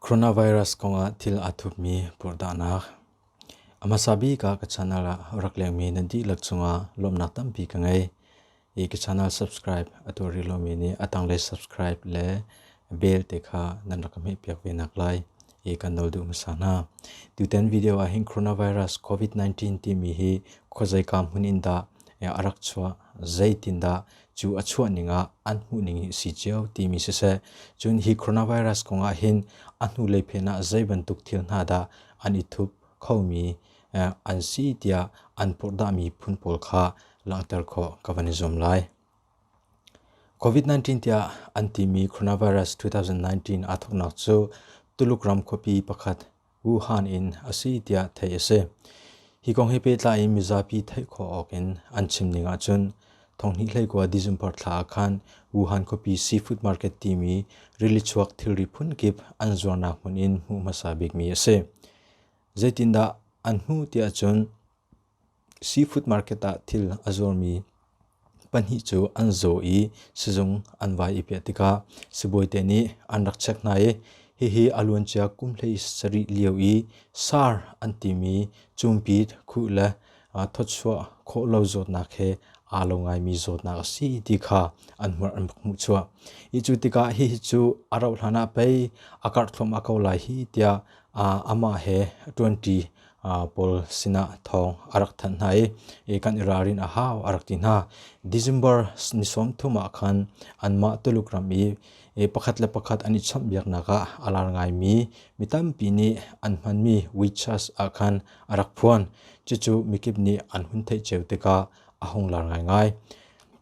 Coronavirus kongah thil aa thupmi purhdah A hmasa bik ah ka channel ah rak lengmi nan dihlak cungah lawmnak tampi ka ngei. I ka channel subscribe a tuah rih lomi nih a tanglei subscribe le bell te kha nan rak ka hmehpiak ve nak lai. i kan nol duh hmasa hna. Tutan video ah hin coronavirus covid-19 timi hi khawzai kam hun in dah a rak chuah zeitin dah cu a chuah ning ah an hmuh ning hi si cio timi si se cun hi coronavirus kong ah hin a hnu lei phen ah zei bantuk thil hna dah an i thup khomi an si tiah an purhdah mi phun pawl kha langhter khawh ka van i zuam lai. COVID-19 tiah an timi coronavirus 2019 aa thawknak cu Tuluk ram khuapi pakhat Wuhan in a si tiah theih a si. Hi kong he pehtlai in mizapi theih khawh awk in an chim ning ahcun thonghnih hleikua December thla ah khan Wuhan khuapi seafood market timi rili chuak thilri phunkip an zuarnak hmun in hmuh hmasa bikmi a si. Zeitindah an hmuh tiah cun Seafood market ah thil a zurmi pahnih cu an zaw i sizung an vai i peh tikah sibawite nih an rak check hna i hihi a luancia kum hlei sarih lio i SAR an timi cumpit khuh le thawchuah khawh lo zawtnak he aa lo ngaimi zawtnak a si ti kha an hmuh an hmuh chuah. Hi cu tikah hihi cu a rauh hlanah pei a karh thluahmah ko lai hi tiah amah he ṭuanṭi pawl sinah thawng a rak thanh hna i kan i ralrin a hau a rak ti hna. December ni sawm thum ah khan anmah Tuluk ram i pakhat le pakhat an i chawnhbiaknak ah a lar ngaimi mi tampi nih an hmanmi witches ah khan a rak phuan. Cucu mikip nih an hun theih cio tikah a hung lar ngaingai.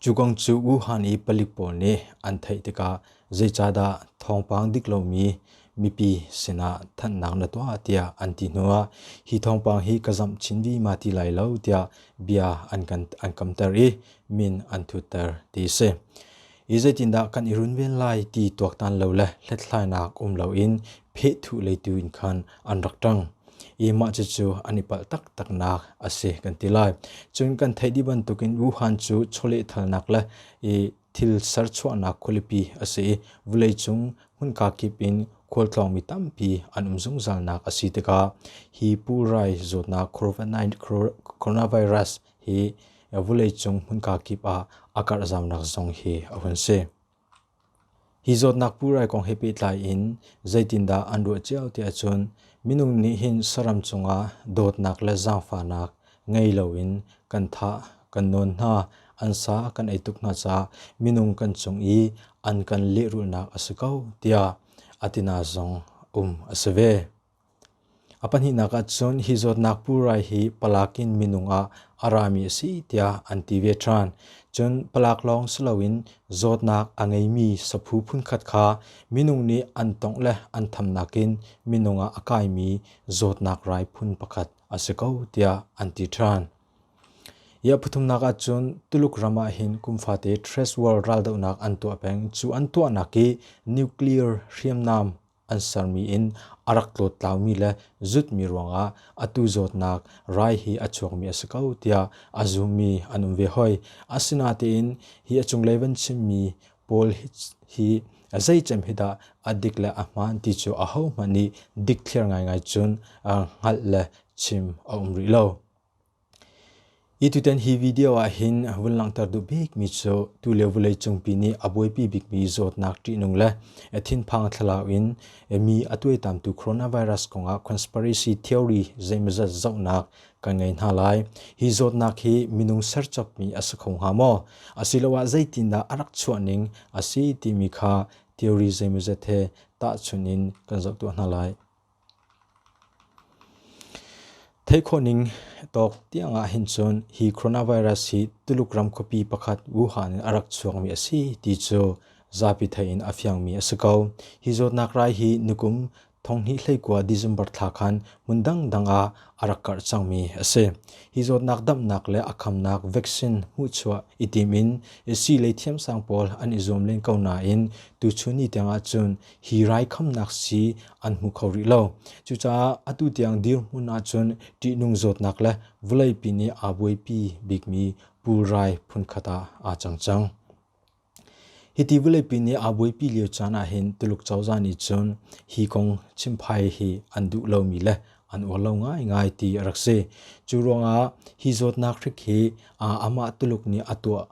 Cu kong cu Wuhan i palik pawl nih an theih tikah Zeicahdah thawngpang dik lomi mipi sinah thanhnak na tuah tiah an ti hnu ah hi thawngpang hi ka zamh chin vima ti lai lo tiah bia an kan an kamter i min an thutter ti a si. Hi zeitindah kan i runven lai ti tuaktan lo le hlethlainak um loin phehthu lei tu in khan an rak ṭang. I mah cucu an i palh taktaknak a si kan ti lai. Cun kan theih dih bantukin Wuhan cu chawlehthalnak le i Thil serchuahnak khualipi a si i vawleicung hmunka kip in khualtlawngmi tampi an um zungzalnak a si tikah hi pulrai zawtnak coronavirus hi vawleicung hmunka kip ah a karhzamnak zong hi a hun si. Hi zawtnak purai kong he pehtlai in zeitindah an ruah cio tiah cun minung nih hin saram cungah dawtnak le zaangfahnak ngei loin kan thah, kan nawn hna, an sa kan ei tuk hna caah minung kan cung i an kan lehrulhnak a si ko tiah a tina zong um a si ve. A pahnihnak ahcun hi zawtnak purai hi palak in minung ah a rami a si tiah an ti ve ṭhan. Cun palak lawng si loin zawtnak a ngeimi saphu phunkhat kha minung nih an tongh le an thamnak in minung ah a kaimi zawtnak rai phun pakhat a si ko tiah an ti ṭhan. Iah pathumnak ahcun Tuluk ram ah hin kum fate Thrace World raldohnak an tuah peng. Cu an tuahnak i nuclear hriamnam an sermi in a rak tlawtlaumi le zutmi ruangah atu zawtnak rai hi a chuakmi a si ko tiah a zummi an um ve hoi. Asinatein hi a cunglei van chimmi pawl hi zeicem hi dah a dik le a hmaan ti cu ahohmanh nih dikthliar ngaingai cun hngalh le chim a um rih lo. Hi tutan hi video ahhin vun langhter duh bikmi cu tulio vawlei cungpi nih a buaipi bikmi zawtnak ṭihnung le thinphang thlalau in mi a tuaitamtu coronavirus kongah conspiracy theory zeimawzat zohnak kan ngei hna lai. Hi zawtnak hi minung serchapmi a si kho hnga maw? Asiloah zeitindah a rak chuahning a si timi kha theory zeimawzat he tahchunh in kan zoh tuah hna lai. Theih khawh ning tawk tiang ah hin cun hi coronavirus hi Tuluk ram khuapi pakhat Wuhan in a rak chuakmi a si ti cu zapi theih in a fiangmi a si ko. Hi zawtnak rai hi nikum thonghnih hleikua December thla khan hmun dangdang ah a rak karh cangmi a si. Hi zawtnak damhnak le a khamnak vaccine hmuhchuah i tim in sii lei thiamsang pawl an i zuam len ko nain tuchun ni tiang ah cun hi raikhamnak si an hmu kho rih lo. Cucaah atu tiang dirhmun ahcun ṭihnung zawtnak le vawleipi nih aa buaipi bikmi pulrai phunkhat ah aa cang cang. Hiti vawleipi nih aa buaipi lio caan ahhin Tuluk cozah nih cun hi kong chimphai hi an duh lomi le an uar lo ngaingai ti a rak si. Cu ruangah hi zawtnak hrik hi amah Tuluk nih a tuah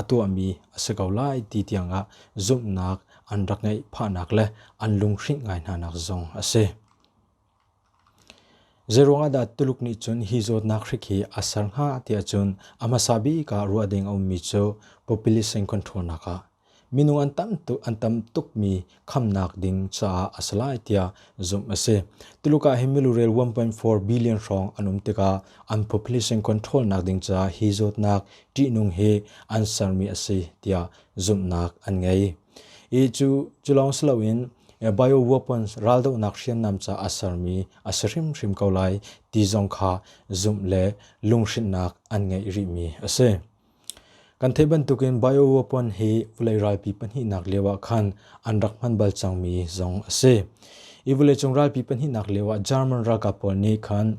a tuahmi a si ko lai ti tiangah zumhnak an rak ngeih phahnak le an lunghring ngai hnanak zong a si. Zeiruangahdah Tuluk nih cun hi zawtnak hrik hi a ser hnga tiah cun a hmasa bik ah ruah ding a ummi cu populist in control nak ah minung an tam tuk an tam tukmi khamnak ding caah a si lai tiah zumh a si. Tuluk ah hi milurel 1.4 billion hrawng an um tikah an population control nak ding caah hi zawtnak ṭihnung hi an sermi a si tiah zumhnak an ngei. I cu cu lawng si loin bio weapons raldohnak hriamnam caah a sermi a si hrimhrim ko lai ti zong kha zumh le lunghrinhnak an ngei rihmi a si. Kan theih bantukin bioweapon hi vawlei ralpi pahnihnak lioah khan an rak hman bal cangmi zong a si. Hi vawleicung ralpi pahnihnak lioah German ralkap pawl nih khan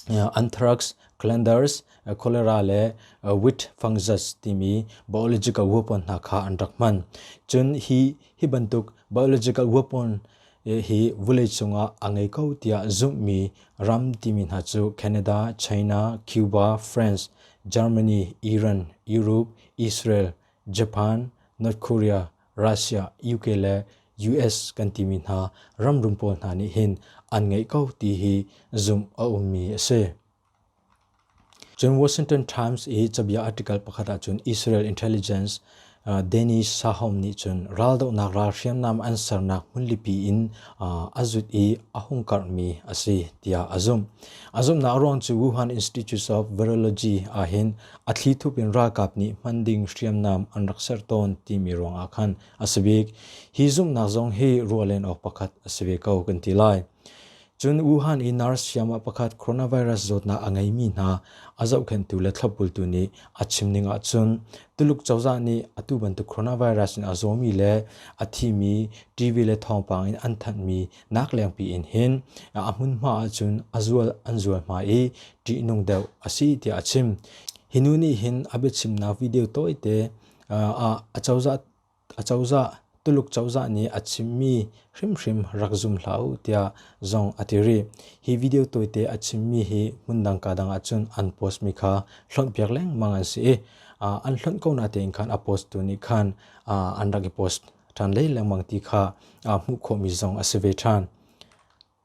anthrax, Calanders, cholera le Witfangzes timi biological weapon hna kha an rak hman. Cun hi bantuk biological weapon hi vuleicung ah a ngei ko tiah zumhmi ram timi hna cu Canada, China, Cuba, France, Germany, Iran, Europe, Israel, Japan, North Korea, Russia, UK le US kan timi hna ramrum pawl hna nih hin an ngeih ko ti hi zumh a ummi a si. Cun Washington Times i cabia article pakhat ahcun Israel intelligence Dennis Sahom nih cun raldohnak ral hriamnam an sernak hmunlipi in a zut i a hung karhmi a si tiah a zumh. A zumhnak ruang cu Wuhan Institute of Virology ahhin a thlithup in ralkap nih hman ding hriamnam an rak ser tawn timi ruangah khan a si bik. Hi zumhnak zong hi ruah len awk pakhat a si ve ko kan ti lai. Cun Wuhan i NARS hriamah pakhat coronavirus zawtnak a ngeimi hna a zohkhenhtu le thlopbultu nih a chimning ahcun Tuluk cozah nih atu bantuk coronavirus in a zawmi le a thimi TV le thawngpang in an thanhmi naklengpi in hin a hmunhma ahcun a zual an zual hma i ṭihnung deuh a si tiah a chim. Hi nu nih hin a biachimnak video tawite ah a cozah Acozah, Tuluk cozah nih a chimmi hrimhrim rak zum hlah u tiah zong a ti rih. Hi video tawite a chimmi hi hmundang kaa dang ahcun an postmi kha hlonhpiak lengmang an si i an hlonh ko na tein khan a post tu nih khan an rak i post ṭhan lengmang ti kha hmuh khawhmi zong a si ve ṭhan.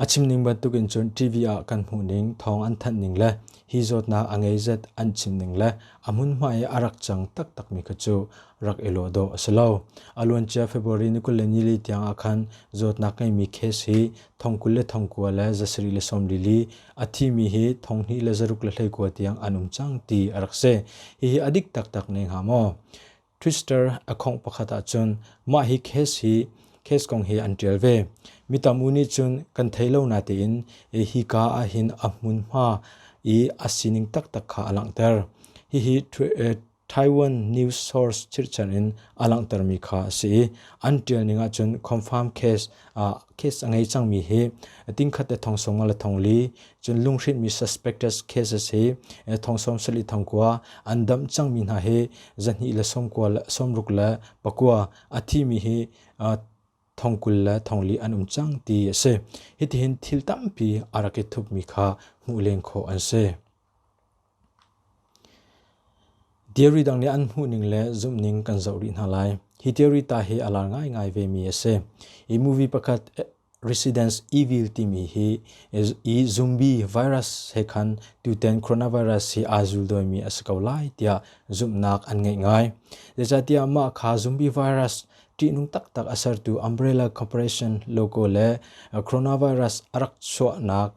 A chimning bantukin cun TV ah kan hmuhning, thawng an thanhning le hi zawtnak a ngei zet an chimning le a hmunhma i a rak cang taktakmi kha cu rak i lawh dawh a si lo. A luancia February ni kul le nili tiang ah khan zawtnak ngeimi case hi thong kul le thong kua le zasarih le sawmlili, a thimi hi thong hnih le zaruk le hleikua tiang an um cang ti a rak si. Hihi a dik taktak ne hnga maw? Twister a khongh pakhat ahcun mah hi case hi case kong hi an ṭial ve. Mi tamu nih cun kan thei lo natein hika ah hin a hmunhma i a sining taktak kha a langhter. Hihi Taiwan news source chirhchan in a langhtermi kha a si i an ṭial ning ahcun confirm case case a ngei cangmi hi tingkhat le thong song le thong li cun lunghrinmi suspected cases hi thong som sali thong kua an dam cangmi hna hi zahni le som kua le somruk le pakua a thimi hi thong kul le thong li an um cang ti a si hitihin thil tampi a rak i thupmi kha hmuh len khawh an si Theory dang nih an hmuhning le zumhning kan zoh rih hna lai. Hi theory ta hi a lar ngaingai vemi a si. Hi movie pakhat Residence Evil timi hi i zumbi virus he khan tutan coronavirus hi aa zul dawimi a si ko lai tiah zumhnak an ngeih ngai. Zeicahtiah mah kha zumbi virus ṭihnung taktak a sertu umbrella corporation logo le coronavirus a rak chuahnak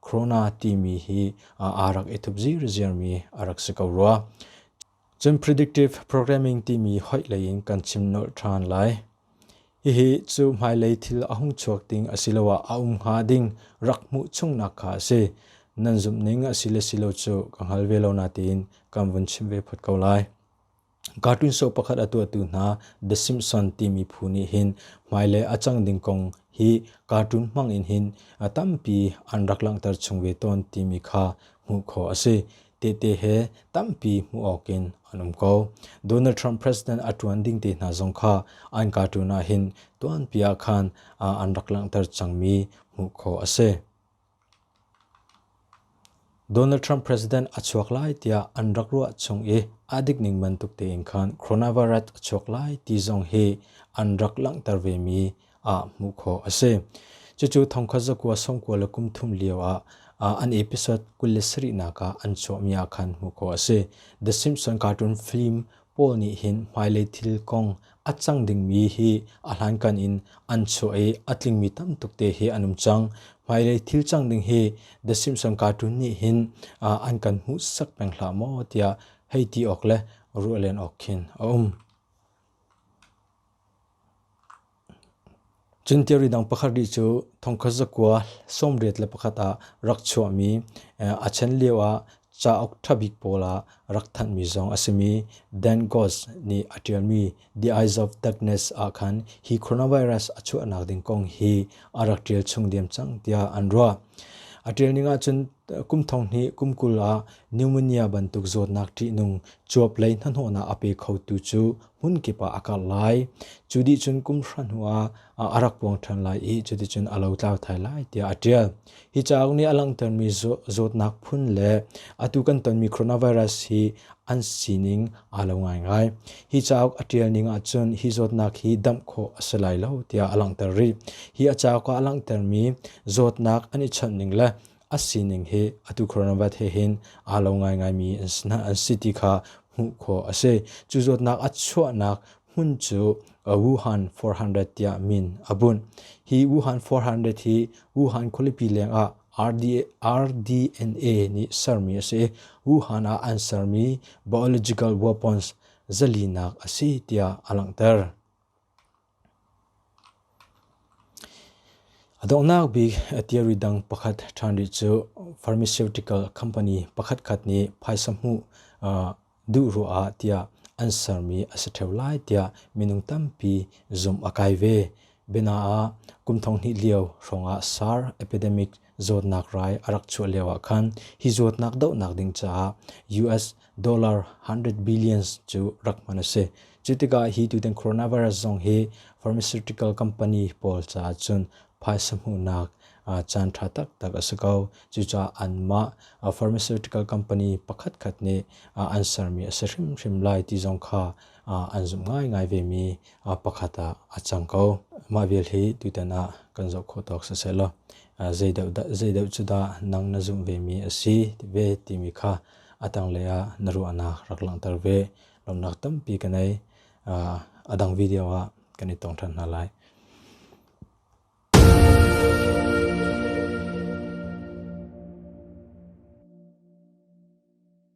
Corona timi hi aa rak i thup zirziarmi a rak si ko rua. Cun predictive programming timi hoih lei in kan chim nolh ṭhan lai. Hihi cu hmailei thil a hung chuak ding asiloah a um hnga ding rak hmuh chungnak kha a si. Nan zumhning a si le si lo cu ka hngal ve lo nain kan vun chim ve phot ko lai. Cartoon soap pakhat a tuahtu hna The Simpsons timi phu nih hin hmailei a cang ding kong hi cartoon hmang in hin a tampi an rak langhter chung ve tawn timi kha hmuh khawh a si. Tehte he tampi hmuh awk in an um ko. Donald Trump president a ṭuan ding te hna zong kha an cartoon ah hin tuanpi ah khan an rak langhter cangmi hmuh khawh a si. Donald Trump president a chuak lai tiah an rak ruah chung i a dik ning bantuk tein khan coronavirus a chuak lai ti zong hi an rak langhter vemi ah hmuh khawh a si. Cucu thongkhat zakua sawmkua le kum thum lio ah an episode kul le sarihnak ah an chuahmi ah khan hmuh khawh a si. The Simpson cartoon film Paul nih hin hmailei thil kong a cang dingmi hi a hlankan in an chuah i a tlingmi tam tuk te hi an um cang. Hmailei thil cang ding hi The Simpson Cartoon nih hin an kan hmuhsak peng hlah maw tiah hei ti awk le ruah len awk khin a um. Cun theory dang pakhat rih cu thongkhat zakua sawmriat le pakhat ah rak chuahmi a chen lioah cauk ṭha bik pawl ah rak thanhmi zong a simi Dan Goss nih a ṭialmi The Eyes of Darkness ah khan hi coronavirus a chuahnak ding kong hi a rak ṭial chung diam cang tiah an ruah. A ṭial ning ahcun kum thong hnih kum kul ah pneumonia bantuk zawtnak ṭihnung cuap lei hnahnawhnak a pe khotu cu hmunkip ah a karh lai. Cu dih cun kum hra hnu ah a rak puang ṭhan lai i cuticun a lo tlau thai lai tiah a ṭial. Hi cauk nih a langhtermi zawtnak phun le atu kan tonmi coronavirus hi an sining aa lo ngaingai. Hi cauk a ṭial ning ahcun hi zawtnak hi damh khawh a si lai lo tiah a langhter rih. Hi a cauk ah a langhtermi zawtnak an i chawnh ning le a sining hi atu coronavirus he hin aa lo ngaingaimi an si ti kha hmuh khawh a si. Cu zawtnak a chuahnak hmun cu Wuhan 400 tiah min a bunh. Hi Wuhan 400 hi Wuhan khualipi leng ah RDNA nih sermi a si i Wuhan ah an sermi biological weapons zalinak a si tiah a langhter. A donghnak bik a theory dang pakhat ṭhan rih cu pharmaceutical company pakhatkhat nih phaisa hmuh duh ruangah tiah an sermi a si ṭheo lai tiah minung tampi zumh a kai ve. Bianaah, kum thong hnih lio hrawngah SARS epidemic zawtnak rai a rak chuah lio ah khan hi zawtnak dohnak ding caah US dollar 100 billions cu rak hman a si. Cu tikah hi tutan coronavirus zong hi pharmaceutical company pawl caah cun phaisa hmuhnak uh, caan ṭha taktak a si ko. Cucaah anmah uh, pharmaceutical company pakhat khat nih uh, an sermi a si hrimhrim lai ti zong kha an zumh ngaingai vemi pakhat ah a cang ko. Mah vial hi tutan ah kan zoh khawh tawk sisehlaw zeideuh cu dah nang na zumh vemi a si ve timi kha a tanglei ah na ruahnak rak langhter ve. Lawmnak tampi kan ei. A dang video ah kan i tong ṭhan hna lai.